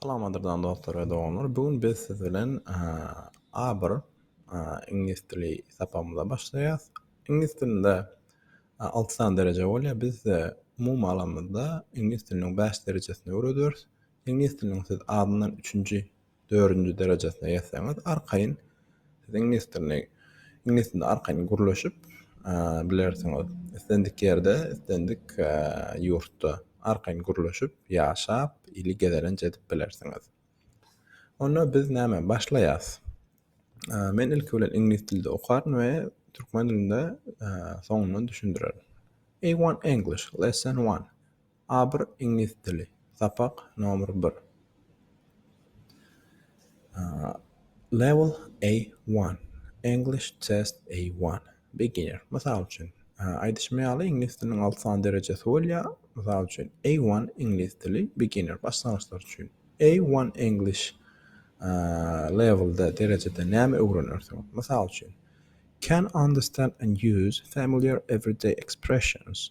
Salamadyrdan dostlar we doganlar. Bu gün biz siz bilen A1 iňlis dili sapagymyza başlaýarys. Iňlis dilinde 6 sany dereje bolýar. Biz size umumy alanymyzda iňlis diliniň 5 derejesini öwredýäris. Iňlis diliniň siz azyndan 3-nji dördünji derejesine ýetseňiz arkaýyn siz iňlis dilini iňlis dilinde arkaýyn gürleşip bilersiňiz islendik ýerde islendik ýurtda arkaýyn gürleşip ýaşap ili gezelenç edip bilersiňiz onda biz näme başlaýas men ilki bilen iňlis dilde okaryn we türkmen dilinde soňundan düşündirerin a1 english lesson 1 A bir iňlis dili sapak nomer bir Level A one English test A one Beginner Mysal üçin aýdyşym ýaly iňlis diliniň alty sany derejesi bolýar mysal üçin A one iňlis dili beginner başlangyçlar üçin A one English levelda derejede näme öwrenersiň mysal üçin Can understand and use familiar everyday expressions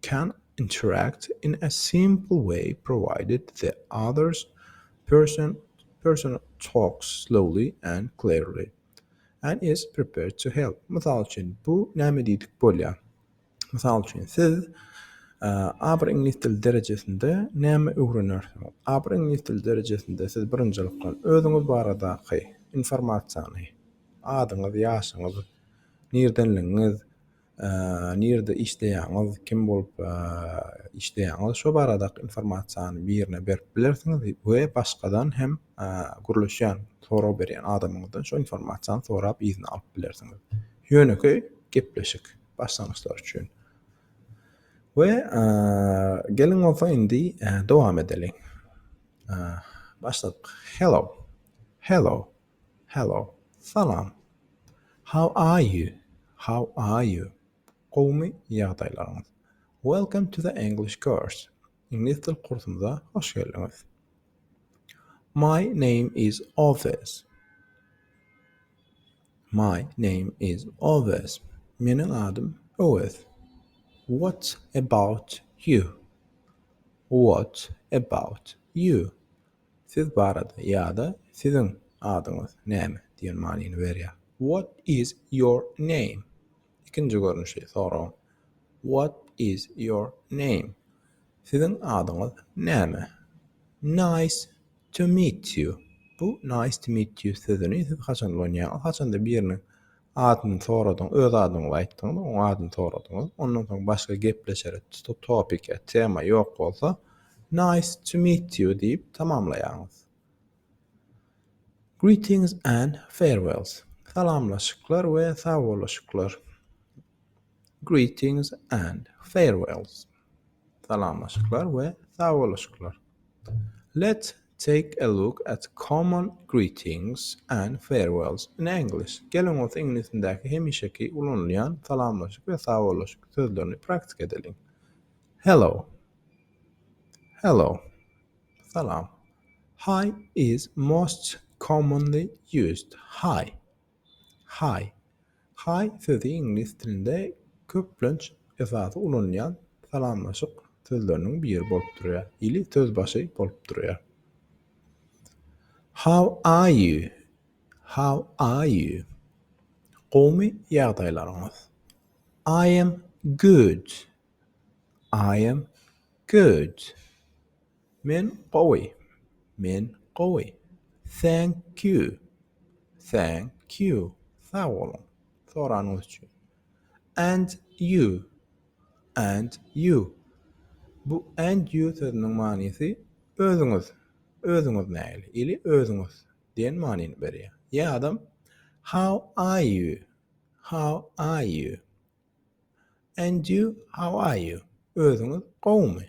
can interact in a simple way provided the other person talks slowly and clearly and is prepared to help. Mysal üçin, bu näme diýdik bolýar? Mysal üçin, siz aber iňlis dili derejesinde näme öwrenersiňiz? Aber iňlis dili derejesinde siz birinjilikden özüňiz baradaky informasiýany, adyňyz, ýaşyňyz, nirdenligiňiz, nirde işleýäňiz, kim bolup işleýäňiz şo baradaky informasiýany birine berip bilersiňiz we başgadan hem gürleşýän, sorag berýän adamyňyzdan şo informasiýany sorap yzyna alyp bilersiňiz. Ýönekeý gepleşik, başlangyçlar üçin. We geliň bolsa indi dowam edeliň. Başladyk. Hello. Hello. Hello, Salam, How are you, How are you, Gowumy ýagdaýlaryňyz, Welcome to the English course, Iňlis dil kursumyza hoş geldiňiz, My name is Owes, My name is Owes, Meniň adym Owes, What about you, What about you, Siz barada ýa-da Siziň adyňyz näme? diýen manyny berýär. What is your name? Ikinji görnüşi soragyň What is your name? Siziň adyňyz näme? Nice to meet you. Bu nice to meet you sözüni siz haçan ulanýaňyz? Haçanda biriniň Adyny soradyň, öz adyňyzy aýtdyňyz, oň adyny soradyňyz. Ondan soň başga gepleşere to topic ýa tema ýok bolsa, Nice to meet you diýip tamamlaýaňyz. Greetings and farewells. Salamlaşyklar we sagboluşyklar. Greetings and farewells. Salamlaşyklar we sagboluşyklar Let's take a look at common greetings and farewells in English Geliň bolsa iňlis dilindäki hemişeki ulanylýan salamlaşyk we sagboluşyk sözlerini praktika edeliň. Hello Hello Salam Hi is most commonly used Hi Hi, Hi sözi iňlis dilinde köplenç esasy ulanylýan salamlaşyk sözleriniň biri bolup durýar, ili söz başy bolup durýar. How are you? How are you? Gowmy ýagdaýlaryňyz? I am good. I am good. Men gowy. Men gowy. Thank you. Thank you. Sag boluň. Soranyňyz üçin. And you. And you. Bu and you sözüniň manysy özüňiz. Özüňiz nähili? Ili özüňiz diýen manyny berýär. Ýa-da How are you? How are you? And you, how are you? Özüňiz gowumy?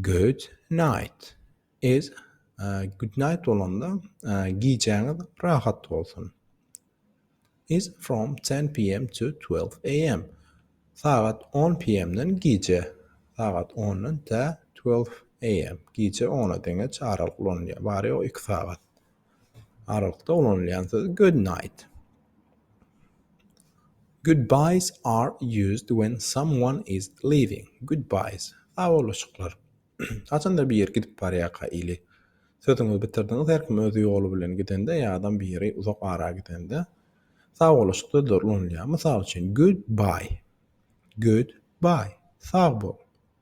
Good night is Good night bolanda gijäňiz rahat bolsun. Is from ten PM to twelve AM. Sagat on PM-den gije. Sagat ondan tä twelve AM. Gije ona deňeç aralyk ulanylýar. Bary ýogy iki sagat. Aralykda ulanylýan söz good night. Goodbyes are used when someone is leaving. Goodbyes. Sagbolushyklar. Haçanda bir ýer gidip barýarka ili sözüňizi bitirdiňiz, her kim öz ýoly bilen gidende ýa adam bir ýere uzak ara gidende sagbolushuk sözleri ulanylýar. Mysal üçin, goodbye. Goodbye. Sag bol.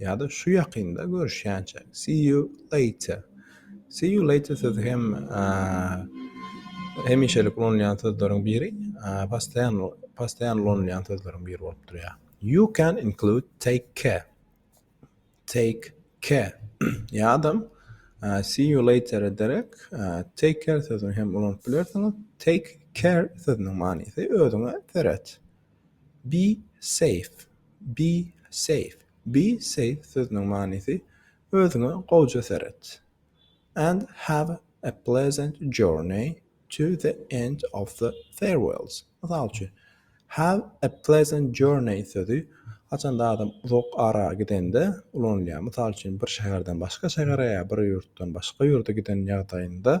Ýa-da şu ýakynda görüşýänçäk. See you later. See you later sözi hem hemişelik ulanylýan sözleriň biri, postaýan postaýan ulanylýan sözleriň biri bolup durýar. You can include take care. Take care. Ýa-da see you later ederek take care sözüni hem ulanyp bilersiňiz. Take care sözüniň manysy özüňe seret. Be safe, be safe, be safe sözüniň manysy Özüňe gowja seret. And have a pleasant journey to the end of the farewells. Mysal üçin, Have a pleasant journey sözi haçanda adam uzak ara gidende ulanylýar. Mysal üçin, bir şäherden başga şähere ýa bir ýurtdan başga ýurda giden ýagdaýynda.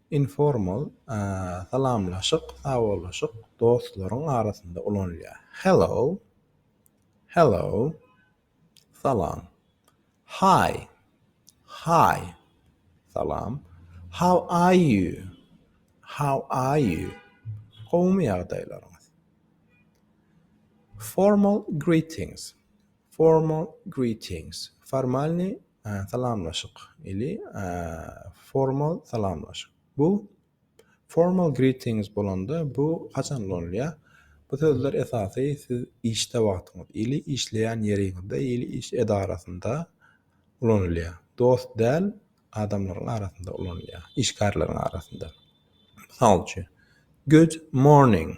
Informal salamlaşyk, sawollaşyk, dostlaryň arasynda ulanylýar. Hello, Hello, Salam. Hi, Hi, Salam. How are you, How are you, Gowumy ýagdaýlaryňyz? Formal greetings, Formal greetings, Formalnyý Salamlaşyk ili formal salamlaşyk. Bu formal greetings bolanda bu haçan ulanylýar? Bu sözler esasy siz işde wagtyňyz ili işleýän ýeriňizde ili iş edarasynda ulanylýar. Dost däl adamlaryň arasynda ulanylýar, işgärleriň arasynda. Mysal üçin, Good morning.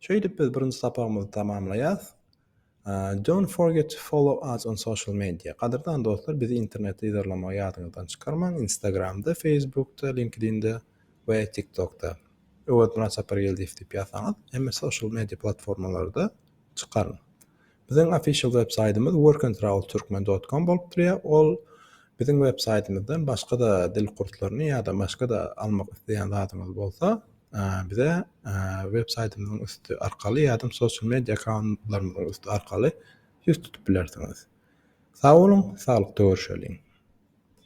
Şeýdip biz birinji sapagymyzy tamamlaýas. Don't forget to follow us on social media. Gadyrdan dostlar bizi internetde yzarlamagy ýadyňyzdan çykarmaň, Instagramda, Facebookda, LinkedIn'de we TikTokda. Öwezmyrat Sapargeldiýew diýip ýazsaňyz hemme social media platformalarda çykaryn. Biziň official web saýtymyz workandtravelturkmen dot kom bolup durýar. Ol biziň web saýtymyzdan başga-da dil kurslaryny ýa-da başga-da almak isleýän zadyňyz bolsa, bize web saýtymyzyň üsti arkaly ýa-da social media akkauntlarymyzyň üsti arkaly ýüz tutup bilersiňiz. Sag boluň, saglykda görşeliň!